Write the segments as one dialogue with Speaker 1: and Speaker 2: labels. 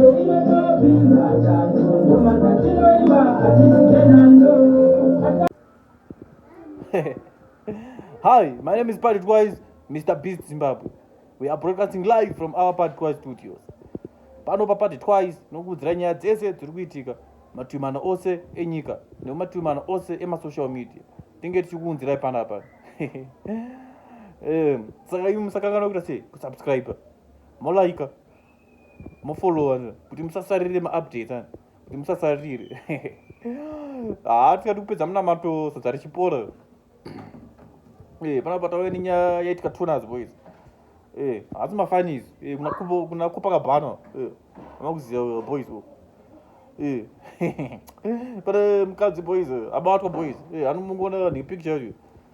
Speaker 1: Hi, my name is Patrick Wise, Mr. Beast Zimbabwe. We are broadcasting live from our Patrick Wise studios. Pano pa Patrick Wise nokuudzira nyaya dzese dziri kuitika mativi mana ose enyika nemumativi mana ose emasocial media. Tinge tichikuunzirai panapa. um, saka imi musakanganwa kuita sei kusubscribe molaika mofollowa kuti musasarire maupdates ani kuti musasarire haa tikati kupedza munamato sadza richipora eh, panapa tave nenyaya yaitika toners boys eh, hasi mafanis eh, kuna kupa kabhana amakuziva boys pane mukadzi boys abatwa boys anomungoona nepicture yacho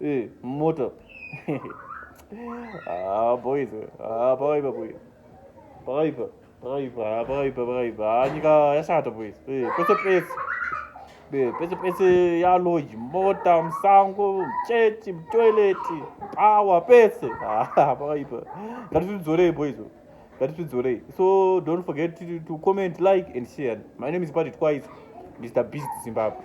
Speaker 1: Eh, moto. ah, boys. Ah, pakaipa boys. Pakaipa. Pakaipa, pakaipa, pakaipa. Ah, nyika yashata boys. Eh, pese pese. Eh, pese pese ya lodge, mota, msango, church, toilet, power pese. Ah, pakaipa. Ngatidzorei boys. Ngatidzorei. So don't forget to, to comment, like and share. My name is Party Twice, Mr. Beast Zimbabwe.